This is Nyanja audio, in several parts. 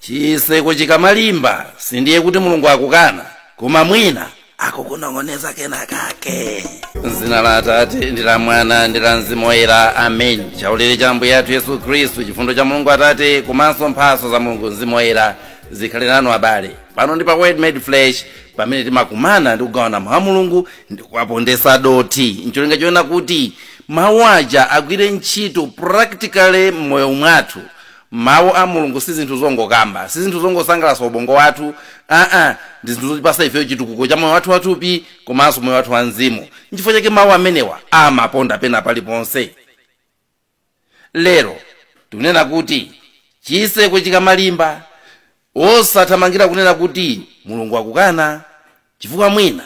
chiseko chikamalimba sindiye kuti mulungu akukana koma mwina akukunong'oneza kena kake m'dzina la atate ndi la mwana ndi la mzimu woyera amen chaulere cha ambuye athu yesu khristu chifundo cha mulungu atate komanso mphaso za mulungu mzimu woyera zikhale nanu abale pano ndi pa word made flesh pamene timakumana ndi kugawana mawu a mulungu ndi kuwapondesa dothi ncholinga choona kuti mawu aja agwire ntchito practically m'moyo mwathu Mau a Mulungu si zinthu zongokamba, si zinthu zongosangalatsa ubongo wathu, aa, ndi zinthu zotipatsa ifepo chitukuko cha moyo wathu wathupi komanso moyo wathu wamzimu. Nchifukwa chake mau amenewa amaponda pena paliponse. Lero tikunena kuti chitseko chikamalimba, osathamangira kunena kuti Mulungu akukana chifukwa mwina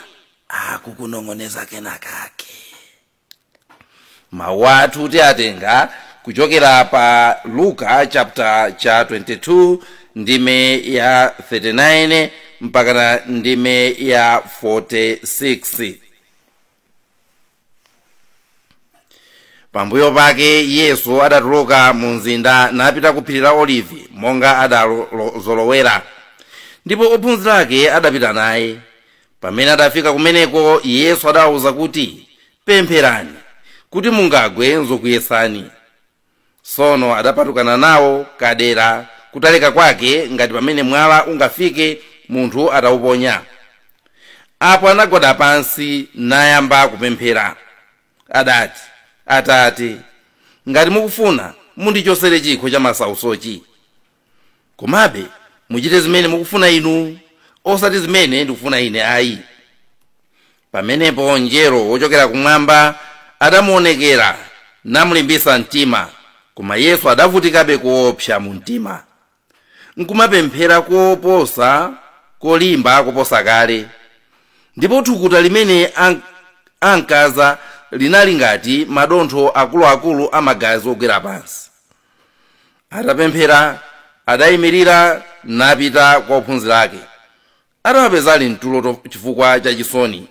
akukunong'oneza kena kake. mawu athu tiatenga kuchokera pa luka chapter cha 22 ndime ya 39 mpakana ndime ya 46 pambuyo pake yesu adatuluka mu mzinda napita ku phiri la olivi monga adazolowera ndipo ophunzira ake adapita naye pamene adafika kumeneko yesu adawauza kuti pempherani kuti mungagwe nzokuyesani sono adapatukana nawo kadera kutalika kwake ngati pamene mwala ungafike munthu atauponya apo anagwada pansi nayamba kupemphera adati atate ngati mukufuna mundichosere chikho cha masausochi komabe muchite zimene mukufuna inu osati zimene ndikufuna ine ayi pamenepo mngelo wochokera kumwamba adamuonekera namulimbitsa mtima koma yesu adavutikabe koopsa mu mtima nkumapemphera koposa kolimba koposa kale ndipo thukuta limene an- ankaza linali ngati madontho akuluakulu a magazi ogwera pansi atapemphera adayimirira napita kwa ophunzira ake adawapeza ali mtulo to- chifukwa cha chisoni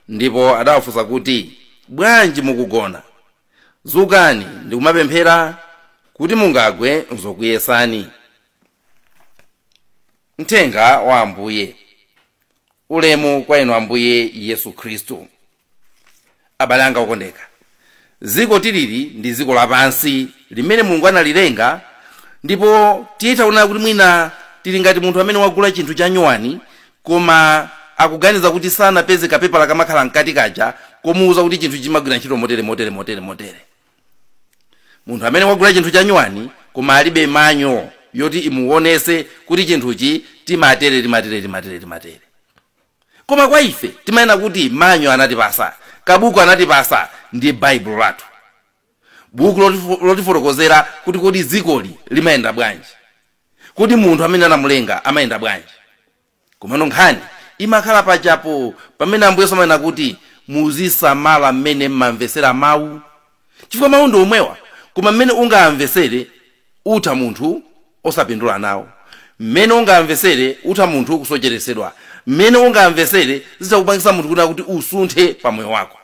ndipo adawafunsa kuti bwanji mukugona zukani ndikumapemphera kuti mungagwe nzokuyesani mthenga wa ambuye ulemu kwa inu ambuye yesu khristu abale anga okondeka dziko tilili ndi dziko lapansi limene mulungu analilenga ndipo titaona kuti mwina tili ngati munthu amene wagula chinthu cha nyuwani koma akuganiza kuti sanapeze kapepala kamakhala mkati kaja komuwuza kuti chinthu chimagwira ntchito motere motere motere motere munthu amene wagula chinthu cha nyuwani koma alibe manual yoti imuwonese kuti chinthuchi timatere timatere timatere timatere koma kwa ife timanena kuti manual anatipasa kabuku anatipasa ndiye baibulo lathu buku lotifotokozera kuti kodi dzikoli limayenda bwanji kodi munthu amene anamulenga amayenda bwanji komano nkhani imakhala pachapo pamene ambuye yesu amanena kuti muzisamala mmene mmamvetsera mawu chifukwa mawu ndi omwewa koma mmene ungawamvesere utha munthu osapindula nawo, mmene ungawamvesere utha munthu kusocheresedwa, mmene ungawamvesere zitha kupangisa munthu kunena kuti usunthe pa moyo wako.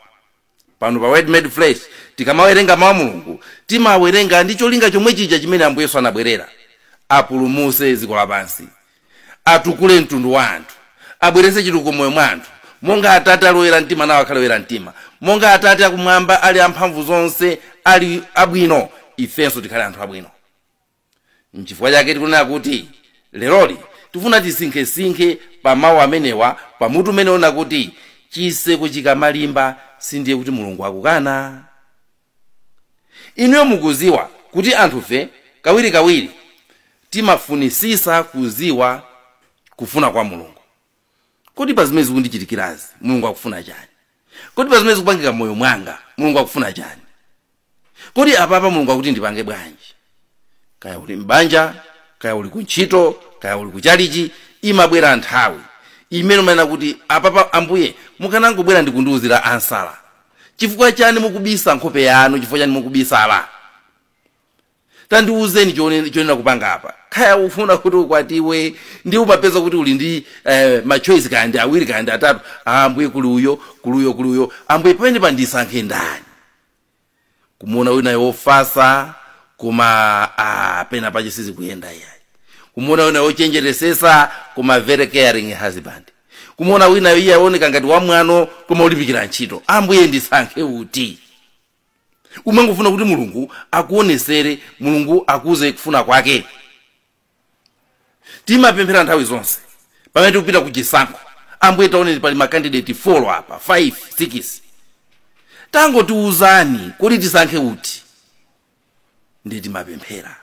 Pano pa word made flesh tikamawerenga mawu a Mulungu timawerenga ndi cholinga chomwechija chimene Ambuye Yesu anabwerera, apulumuse dziko lapansi. atukule mtundu wa anthu abweretse chitukuko moyo mwa anthu monga atate ali oyera mtima nawo akhale oyera mtima monga atate akumwamba ali amphamvu zonse ali abwino ifenso tikhale anthu abwino nchifukwa chake tikunena kuti leroli tifuna tisinkhesinkhe pa mawu amenewa pa mutu umene wonena kuti chiseko chikamalimba sindiye kuti mulungu akukana inuyo mukuziwa kuti anthufe kawirikawiri timafunisisa kuziwa kufuna kwa mulungu kodi pa zimene zikundichitikirazi mulungu akufuna chani kodi pa zimene zikupangika moyo mwanga mulungu akufuna chani kodi apapa mulungu akuti ndipange bwanji kaya uli m'banja kaya uli kuntchito kaya uli kuchalichi imabwera nthawi imene umanena kuti apapa ambuye mukanangobwera ndikundiuzira answer chifukwa chani mukubisa nkhope yanu chifukwa chani mukubisala tandiuzeni chonena kupanga apa kaya ufuna kuti ukwatiwe ndi umapeza kuti uli ndi eh, machoice kapena awiri kapena atatu ambuye kuli uyo kuli uyo kuli uyo ambuye pamenepa ndisankhe ndani kumuona winayo wofasa koma ah, pena pache sizikuyenda yayi kumuona winayo wochenjeresesa koma very caring husband kumuona winayo iye aoneka ngati wamwano koma wolimbikira ntchito ambuye ndisankhe uti umangofuna kuti mulungu akuonesere mulungu akuuze kufuna kwake timapemphera nthawi zonse pamene tikupita ku chisankho ambuye taoneni pali makandideti folo apa 5 6 tangotiuzani kodi tisankhe uti ndiye timapemphera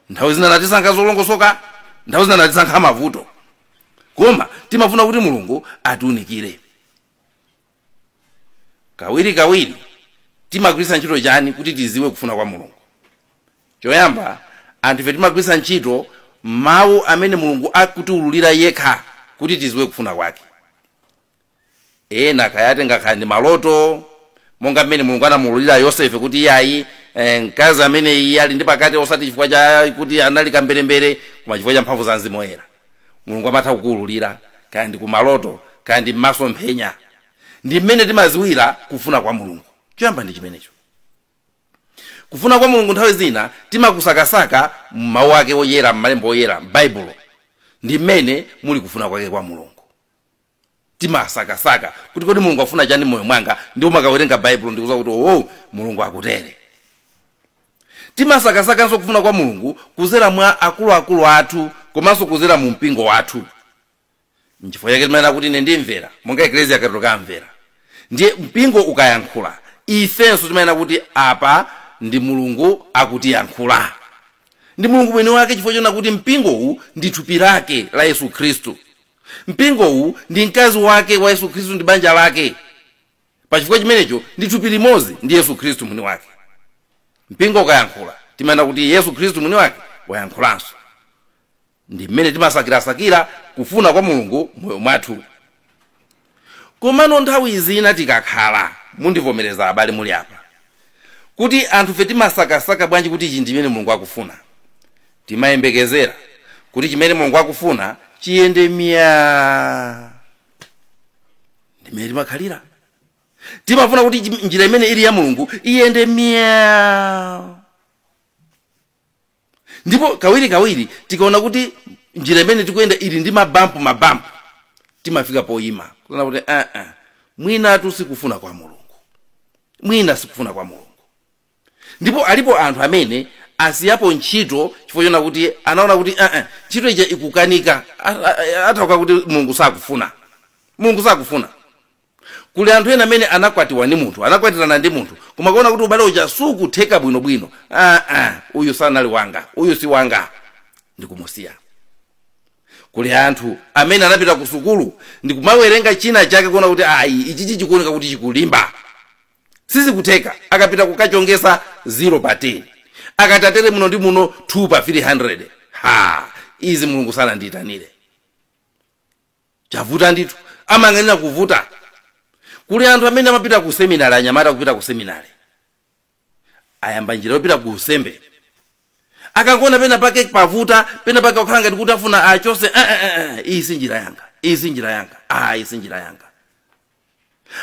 nthawi zina natisankha zolongosoka nthawi zina natisankha mavuto koma timafuna kuti mulungu atiunikire kawirikawiri timagwiritsa ntchito chani kuti tiziwe kufuna kwa mulungu choyamba anthu ife timagwiritsa ntchito mawu amene mulungu akutiululira yekha kuti tiziwe kufuna kwake ena kaya atha kukhala ndi maloto monga mmene mulungu anamuululira yosefe kuti iyayi eh, mkazi amene iye ali ndi pakati osati chifukwa cha kuti anali kamberembere koma chifukwa cha mphamvu za mzimu woyera mulungu amatha kukuululira kaya ndi kumaloto kaya ndi mmasomphenya ndi mmene timaziwira kufuna kwa mulungu choyamba ndi chimenecho kufuna kwa mulungu nthawi zina timakusakasaka mmawu ake oyera mmalembo oyera m'baibulo ndi mmene muli kufuna kwake kwa mulungu timasakasaka kuti kodi mulungu afuna chani mmoyo mwanga ndipo umakawerenga baibulo ndikuza kuti owo mulungu akutere timasakasakanso kufuna kwa mulungu kuzera mwa akuluakulu athu komanso kuzera mu mpingo wathu nchifukwa chake timanena kuti ine ndimvera monga ekleziya katolika amvera ndiye mpingo ukayankhula ifenso timanena kuti apa ndi mulungu akutiyankhula ndi mulungu mwini wake chifukwa chonena kuti mpingowu ndi thupi lake la yesu khristu Mpingowu ndi mkazi wake wa Yesu Khristu ndi banja lake. Pa chifukwa chimenecho ndi thupi limodzi ndi Yesu Khristu mwini wake. Mpingo ukayankhula timanena kuti Yesu Khristu mwini wake wayankhulanso. Ndi mmene timasakirasakira kufuna kwa Mulungu mmoyo mwathu. komano nthawi zina tikakhala mundivomereza abale muli apa kuti anthufe timasakasaka bwanji kuti ichi nchimene mulungu akufuna timayembekezera kuti chimene mulungu akufuna chiyende mya ndimene timakhalira timafuna kuti chi- njira imene ili ya mulungu iyende mya ndipo kawirikawiri tikaona kuti njira imene tikuyenda ili ndi mabampu mabampu timafika poyima kunena kuti aa mwinatu sikufuna kwa mulungu mwina sikufuna kwa mulungu ndipo alipo anthu amene asiyapo ntchito chifukwa chonena kuti anaona kuti aa ntchito ija ikukanika A- a- a- atanthauza kuti mulungu sakufuna mulungu sakufuna kuli anthu ena amene anakwatiwa ndi munthu anakwatirana ndi munthu koma kuona kuti ubale uja sukutheka bwinobwino ah, ah, uyu sanali wanga uyu si wanga ndikumusiya kuli anthu amene anapita ku sukulu ndikumawerenga china chake kuona kuti ayi ichichi chikuoneka kuti chikulimba sizikutheka akapita kukachongetsa 0 pa 10 akatatere muno ndi muno 2 pa 300 ha izi mulungu sanandiyitanire chavuta ndithu amang'anira kuvuta kuli anthu amene amapita ku seminary anyamata kupita ku seminary ayamba njira yopita ku usembe akangoona pena pake pavuta pena pake wakhala ngati kuti afuna achose "Ah, ah, ah, ah, iyi si njira yanga iyi si njira yanga ah, iyi si njira yanga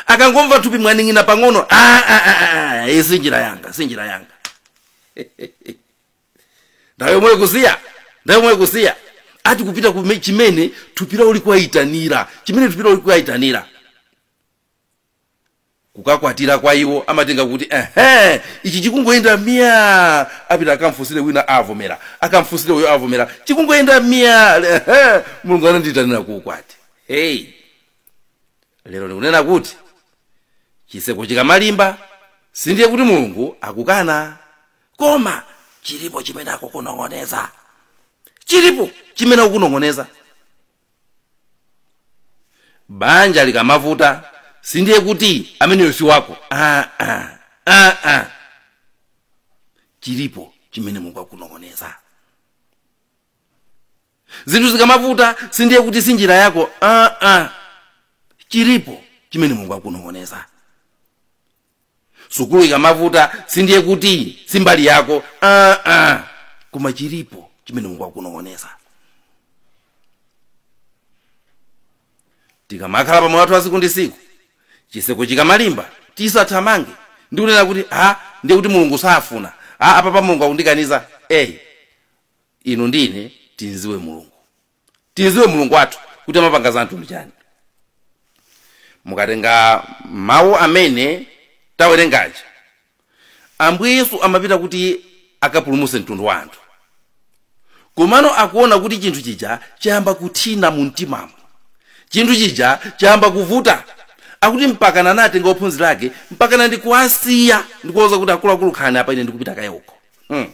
akangomva thupi mwaning'ina pang'ono "Ah, ah, ah, ah, ah, iyi si njira yanga si njira yanga nthawi yomwe ikusiya nthawi yomwe ikusiya ati kupita kume- chimene thupi lawo likuwayitanira chimene thupi lawo likuwayitanira kukakwatira kwa iwo amatenga kuti ehe ichi chikungoyenda myaa apita akamfunsire wina avomera akamfunsire uyo avomera chikungoyenda myaa ehe mulungu anandiyitanira ku ukwati hey lero ndikunena kuti chitseko chikamalimba sindiye kuti mulungu akukana koma chilipo chimene akukunong'oneza chilipo chimene akukunong'oneza banja likamavuta sindiye kuti ameneyo si wako ah, ah, ah, ah. chilipo chimene mulungu akukunong'oneza zinthu zikamavuta sindiye kuti si njira yako ah, ah. chilipo chimene mulungu akukunong'oneza sukulu ikamavuta sindiye kuti si mbali yako aa uh, uh. koma chilipo chimene mulungu akukunong'oneza tikamakhala pamoyo wathu wa tsiku ndi tsiku chitseko chikamalimba tisathamange ndi kunena kuti a ndiye kuti mulungu safuna a apapa mulungu akundikaniza eyi inu ndine timdziwe mulungu timdziwe mulungu wathu kuti amapanga za mtundu chani mukatenga mawu amene tawerengaja ambuye yesu amapita kuti akapulumutse mtundu wa anthu komano akuona kuti chinthu chija chayamba kuthina mu mtimamo chinthu chija chayamba kuvuta akuti mpakana anatenga ophunzira ake mpakana ndikuwasiya ndikuwauza kuti akuluakulu khalani apa ine ndikupita kaye uko hmm.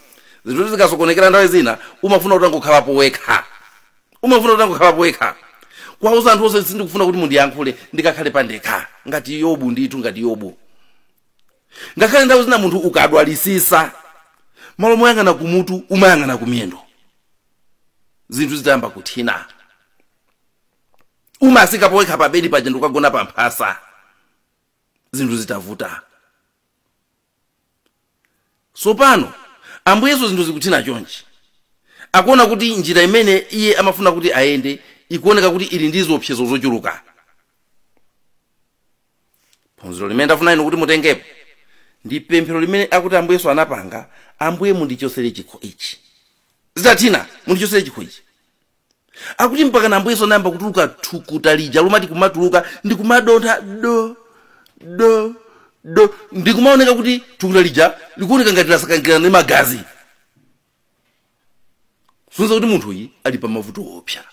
zinthu zikasokonekera nthawi zina umafuna utangokhalapo wekha umafuna utangokhalapo wekha kwauza anthu onse sindikufuna kuti mundiyankhule ndikakhale pandekha ngati yobu ndithu ngati yobu ngakhale nthawi zina munthu ukadwalisisa malo moyang'ana kumutu umayang'ana kumiyendo zinthu zitayamba kuthina umasikapo wekha pabedi paja ndi kukagona pamphasa zinthu zitavuta tsopano ambuye yesu zinthu zikuthina chonchi akuona kuti njira imene iye amafuna kuti ayende ikuoneka kuti ili ndi ziopsezo zochuluka phunziro limene ndafuna inu kuti mutengepo ndi pemphero limene akuti ambuye yesu anapanga ambuye mundichotsere chikho ichi zitathina mundichotsere chikho ichi akuti mpaka ambuye yesu anayamba kutuluka thukuta lija limati kumatuluka ndikumadontha do do do ndikumaoneka kuti thukuta lija likuoneka ngati lasakanikirana ndi magazi sonza kuti munthu uyi ali pa mavuto opsa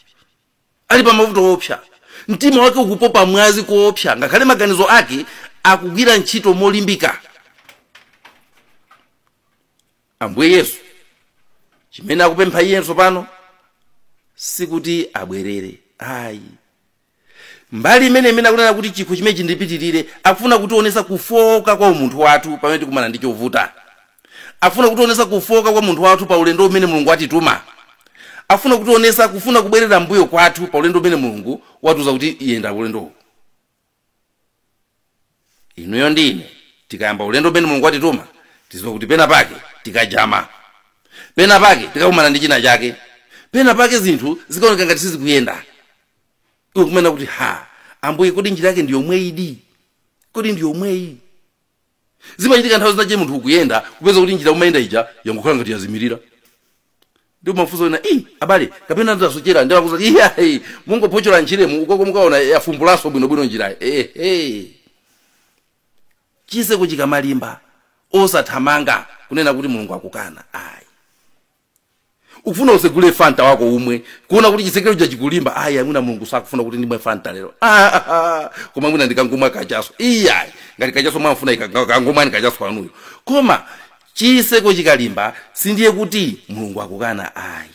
ali pa mavuto opsa mtima wake ukupopa mwazi koopsa ngakhale maganizo ake akugwira ntchito molimbika ambuye yesu chimene akupempha iye tsopano sikuti abwerere ayi mbali imene imene akunena kuti chikho chimene chindipitirire afuna kutionesa kufoka kwa umunthu wathu pamene tikumana ndi chovuta afuna kutionesa kufoka kwa umunthu wathu pa ulendo umene mulungu watituma afuna kutionesa kufuna kubwerera mbuyo kwathu pa ulendo umene mulungu watiuza kuti yenda ulendowu inuyo ndi ine tikayamba ulendo umene mulungu watituma tiziwa kuti pena pake tikajama pena pake tikakumana ndi china chake pena pake zinthu zikaoneka ngati sizikuyenda iwe kumanena kuti ha ambuye kodi njira yake ndi yomweyidi kodi ndi yomweyi zimachitika nthawi zinache munthu ukuyenda kupeza kuti njira umayenda ija yangokhala ngati yazimirira ndi umafunsa ena ii abale kapena ndasochera ndiye akuuza iyayi mungophochola njiramu ukoko mukaona yafumbulaso bwinobwino njirayo ehe chiseko chikamalimba osathamanga kunena kuti mulungu akukana ayi ukufuna usegule fanta wako umwe kuona kuti chisekero chake chikulimba ayi mwina mulungu sakufuna kuti ndimwe fanta lero Ah, ah, ah. koma mwina ndikangomwa kachaso iyayi ngati kachaso mwamfuna kangomwani kachaso wanuyo koma chiseko chikalimba sindiye kuti mulungu akukana ayi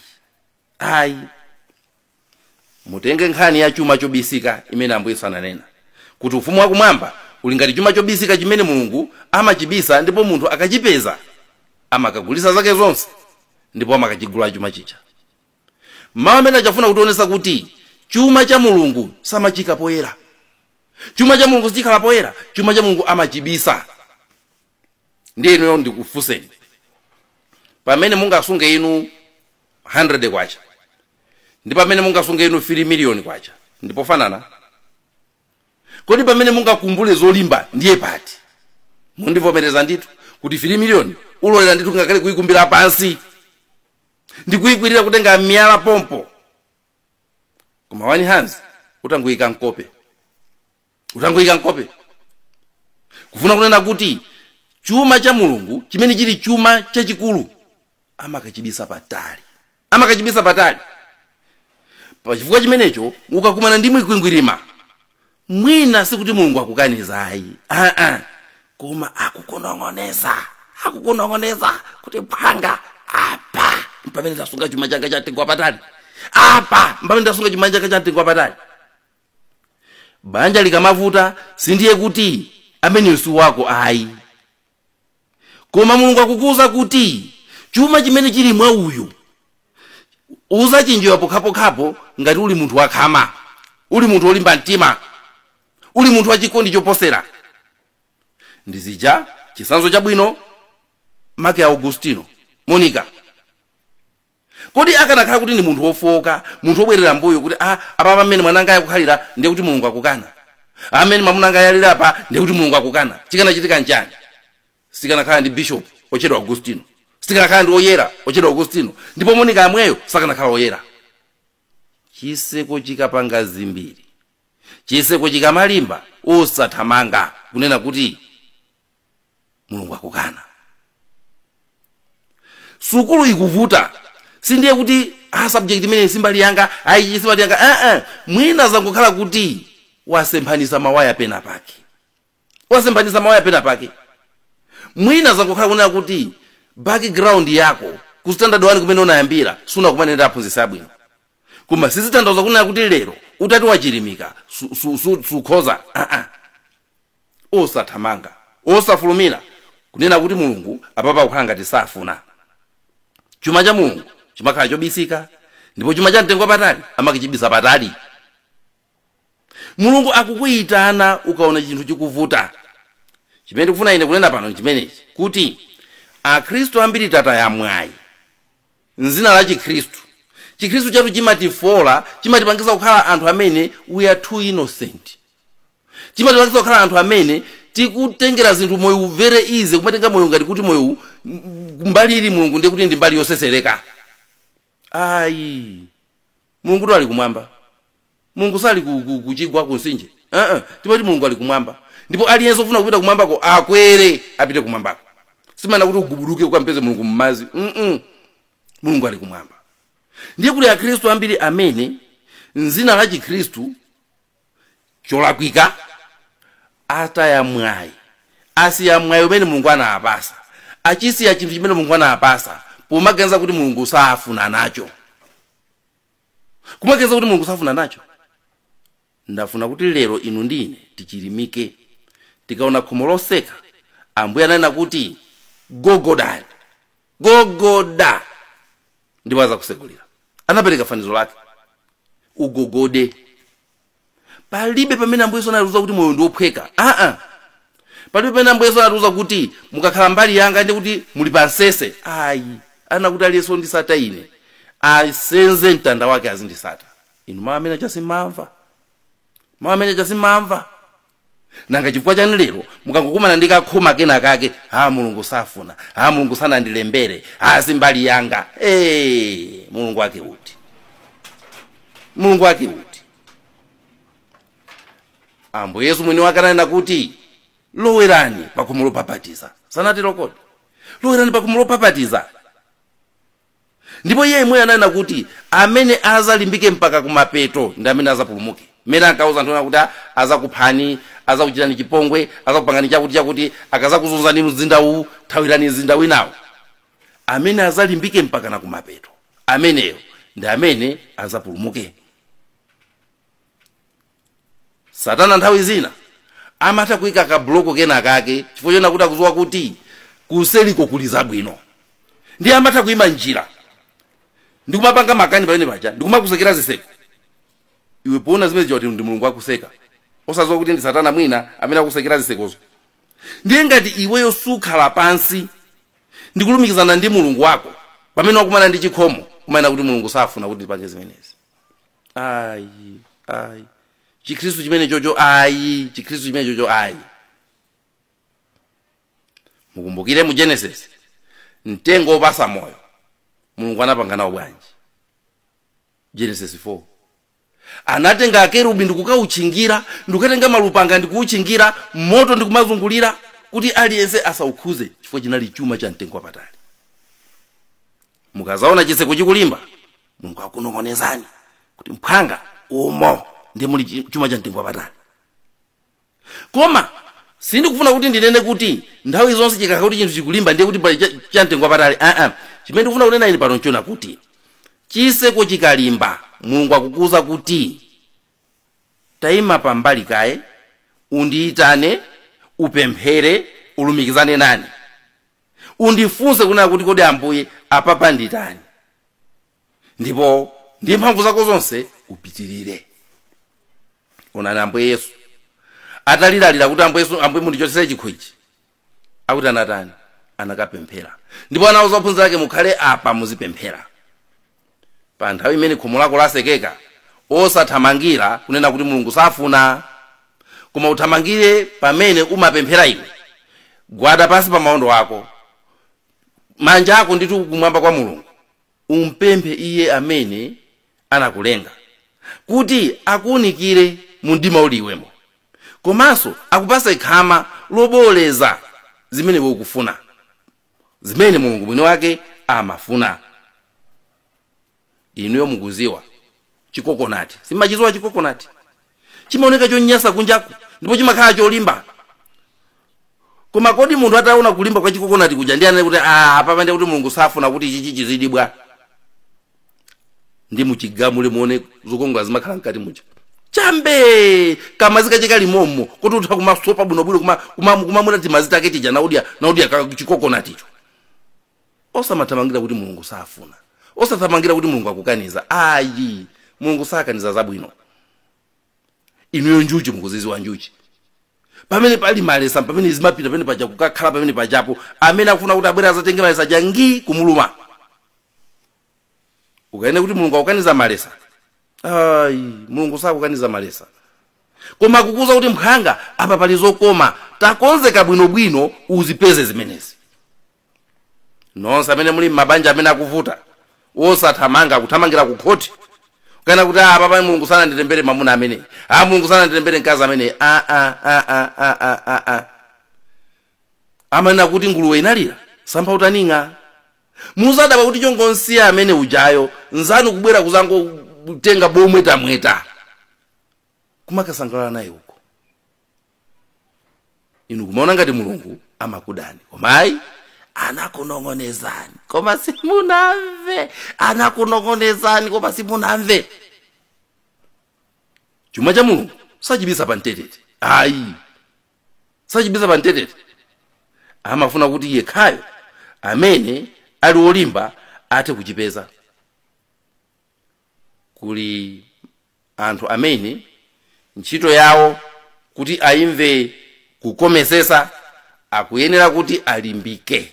ayi mutenge nkhani ya chuma chobisika imene ambuye yesu ananena kuti ufumu wakumwamba uli ngati chuma chobisika chimene mulungu amachibisa ndipo munthu akachipeza amakagulisa zake zonse ndipo amakachigula chuma chija mawu amenewa akufuna kutionesa kuti chuma cha mulungu samachiika poyera chuma cha mulungu sichikhala poyera chuma cha mulungu amachibisa ndiye inuyo ndikufunseni pamene mungasunge inu 100 kwacha ndi pamene mungasunge inu 3 miliyoni kwacha ndipofanana kodi pamene mungakumbule zolimba ndiye pati mundivomereza ndithu kuti 3 miliyoni ulolera ndithu ngakhale kuyikumbira pansi ndikuyikwirira kutenga miyala pompo koma wani hands utangoyika mkope utangoyika mkope kufuna kunena kuti chuma cha mulungu chimene chili chuma chachikulu amakachibisa patali amakachibisa patali pachifukwa chimenecho ukakumana ndi mikwingwirima mwina sikuti mulungu akukaniza ayi aa koma akukunong'oneza akukunong'oneza kuti mphwanga apa mpamene ndasunga chuma changa chamtengo wapatali apa mpamene ndasunga chuma changa chamtengo wapatali banja likamavuta sindiye kuti ameneyu si wako ayi koma mulungu akukuwuza kuti chuma chimene chili mwa uyu uzachidziwa pokhapokhapo ngati uli munthu wakhama uli munthu wolimba mtima uli munthu wachikondi choposera ndi zija chisanzo chabwino make augustino monica kodi akanakhala kuti ndi munthu wofooka munthu wobwerera mbuyo kuti a apapa mmene mwanangayu akukhalira ndiye kuti mulungu akukana a mmene mamunangayu aliri apa ndiye kuti mulungu akukana chikanachitika nchani sikanakhala ndi bishop otchedwa augustino sikanakhala ndi oyera otchedwa augustino ndipo monika amweyo sakanakhala oyera chiseko chikapanga zimbiri chiseko chikamalimba osathamanga kunena kuti mulungu akukana sukulu ikuvuta sindiye kuti a subject imeneyi simbali yanga ayi simbali yanga aa mwina zangokhala kuti wasemphanisa mawaya pena pake wasemphanisa mawaya pena pake mwina zangokhala kunena kuti background yako ku standard 1 kumene unayambira sunakumane ndi aphunzitsi abwino koma sizitanthauza kunena kuti lero utati wachilimika sukhoza su, su, su, aa osathamanga, osafulumira kunena kuti Mulungu apapa akukhala ngati safuna. Chuma cha Mulungu chimakhala chobisika ndipo chuma cha mtengo wapatali amakachibisa patali. Mulungu akukuyitana ukaona chinthu chikuvuta. Chimene ndikufuna ine kunena pano nchimenechi kuti Akhristu ambiri tataya mwayi m'zina la Chikhristu. Chikhristu chathu chimatifoola, chimatipangisa kukhala anthu amene we are too innocent. chimatipangisa kukhala anthu amene tikutengera zinthu moyo very easy kumatenga moyo ngati kuti moyo u- m- mbali ili mulungu ndiye kuti ndi mbali yosesereka ayi mulungu ndo ali kumwamba mulungu sali ku- ku- kuchigwa kunsinje uh-uh. timati mulungu ali kumwamba ndipo aliyense ofuna kupita kumwambako akwere apite kumwambako simanena kuti ugubuduke ukampeze mulungu mmazi mm mulungu ali kumwamba ndiye kuti akhristu ambiri amene m'zina la chikhristu cholakwika ataya mwayi asiya mwayi umene mulungu anawapasa achisiya chinthu chimene mulungu anawapasa pomaganiza kuti mulungu safuna nacho kumaganiza kuti mulungu safuna nacho ndufuna kuti lero inu ndi ine tichilimike tikaona khomo loseka ambuye ananena kuti gogodani gogoda ndipo azakusegulira anapereka fanizo lake ugogode palibe pamene ambuye yesu anatiuza kuti moyo ndi wophweka aa palibe pamene ambuye yesu anatiuza kuti mukakhala mbali yanga ndi kuti muli pa msese ayi ananena kuti aliyense wondisata ine asenze mtanda wake azindisata inu mawu amene aja simamva mawu amene aja simamva nanga chifukwa chani lero mukangokumana ndi kakhoma kena kake a mulungu safuna a mulungu sanandilembere a si mbali yanga hey, mulungu wake uti mulungu wake uti ambuye yesu mwini wake ananena kuti lowerani pakhomo lopapatiza sanatero kodi lowerani pakhomo lopapatiza ndipo iye yemweyo ananena kuti amene azalimbike mpaka kumapeto ndi amene azapulumuke mmene ankauza anthu ena kuti "Ah, azakuphani azakuchitani chipongwe azakupangani chakuti chakuti akazakuzunzani mzinda uwu thawirani mzinda winawo amene azalimbike mpaka na kumapeto ameneyo ndi amene azapulumuke satana nthawi zina amatha kuika kabuloko kena kake chifukwa chonena kuti akuziwa kuti kuseriko kuli zabwino ndiye amatha kuima njira ndikumapanga makani pamene paja ndikumakusekera ziseko iwe poona zimenezo uti ndi mulungu akuseka osaziwa kuti ndi satana mwina amene akusekera zisekozo ndiye ngati iweyo sukhala pansi ndikulumikizana ndi mulungu wako pamene wakumana ndi chikhomo kumanena kuti mulungu safuna kuti ndipange zimenezi ayi ayi chikhristu chimene chocho ayi chikhristu chimene chocho ayi mukumbukire mu genesis mtengo wopasa moyo mulungu anapanga nawo bwanji genesis 4 anatenga akerubi ndikukauchingira ndikukatenga malupanga ndikuuchingira moto ndikumazungulira kuti aliyense asaukhuze chifukwa chinali chuma cha mtengo wapatali mukazaona chitseko chikulimba mulungu akunong'onezani kuti mphwanga umo ndi muli chi- chuma cha mtengo wapatali koma sindikufuna kuti ndinene kuti nthawi zonse chikakhala kuti chinthu chikulimba ndiye kuti pali cha- cha mtengo wapatali aa chimene ndikufuna kunena ine pano nchonena kuti chiseko chikalimba mulungu akukuuza kuti tayima pambali kaye undiyitane upemphere ulumikizane nane undifunse kunena kuti kodi ambuye apapa nditani ndipo ndi mphamvu zako zonse upitirire onani ambuye yesu ataliralira kuti ambuye yesu ambuye mundichotsere chikho ichi akuti anatani anakapemphera ndipo anawauza ophunzira ake mukhale apa muzipemphera pa nthawi imene khomo lako lasekeka osathamangira kunena kuti mulungu safuna koma uthamangire pamene umapemphera iwe gwada pansi pa maondo ako manja ako ndithu kumwamba kwa mulungu umpemphe iye amene anakulenga kuti akuunikire mu mdima uli iwemo komanso akupase khama loboolera zimene iwe ukufuna zimene mulungu mwini wake amafuna inuyo mukuziwa chikokonati simumachiziwa chikokonati chimaoneka chonyasa kunjaku ndipo chimakhala cholimba koma kodi munthu ataona kulimba kwa chikokonati kuja ndi anene kuti ah apapa ndiye kuti mulungu safuna kuti ichichi chizidibwa ndi muchigamule muone zokongola zimakhala mkati muja chambe kamazi kache kali momo kuti utha kumasopa bwinobwino kumamwa timazi take tija nkudya nkudya ka- chikokonaticho osamathamangira kuti mulungu safuna osathamangira kuti mulungu akukaniza ayi mulungu sakaniza zabwino inuyo njuchi mukuziziwa njuchi pamene pali malesa pamene zimapita pamene paja kukakhala pamene pajapo amene akufuna kuti abwere azatenge malesa aja ndi kumuluma mukanene kuti mulungu akukaniza malesa ayi mulungu sakukaniza malesa koma akukuuza kuti mphwanga apa pali zokoma takonzeka bwinobwino uzipeze zimenezi nonse amene muli m'mabanja amene akuvuta osathamangira kuthamangira ku khoti kukanena kuti apapa mulungu sananditembere mamuna ameneyi a mulungu sananditembere mkazi ameneyi a a a a a a a a amanena kuti nguluwe inalira msampha utaning'a muzadabwa kuti chongonsiya amene ujayo nzanu kubwera kuzangotenga bomwetulamwetula kumakasangalala naye uko inu kumaona ngati mulungu amakudani koma ayi anakunong'onezani koma simunamve anakunong'onezani koma simunamve chuma cha mulungu sachibisa pa mtetete ayi sachibisa pa mtetete amafuna kuti yekhayo amene ali olimba athe kuchipeza kuli anthu amene ntchito yawo kuti ayimve kukomesesa akuyenera kuti alimbike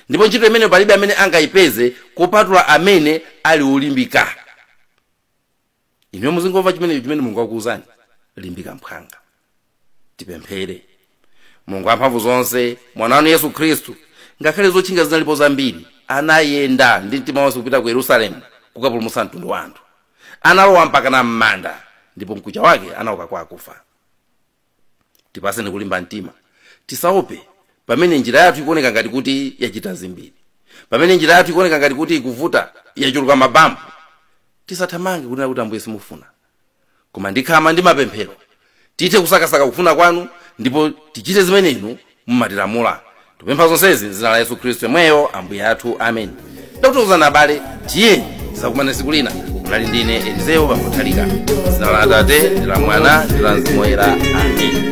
ndipo ntchito imeneyo palibe amene angayipeze kupatula amene ali olimbika inuyo muzingomva chimene chimene mulungu akuwuzani limbika mphwanga tipemphere mulungu wamphamvu zonse mwana wanu yesu khristu ngakhale zotchinga zinalipo zambiri anayenda ndi mtima wonse kupita ku yerusalemu kukapulumutsa mtundu wa anthu analowa mpaka na m'manda ndipo mkucha wake anauka kwa akufa tipaseni kulimba mtima tisaope pamene njira yathu ikuoneka ngati kuti yachita zimbiri pamene njira yathu ikuoneka ngati kuti ikuvuta yachuluka mabampu tisathamange kunena kuti ambuye simukufuna koma ndi khama ndi mapemphero tithe kusakasaka kufuna kwanu ndipo tichite zimene inu mumatilamula tikupempha zonsezi m'dzina la yesu khristu yemweyo ambuye athu ameni ndakuthokozani abale tiyeni tizakumane siku lina munali ndine elizeyo bambo nthalika m'dzina la atate ndi la mwana ndi la mzimu woyera ameni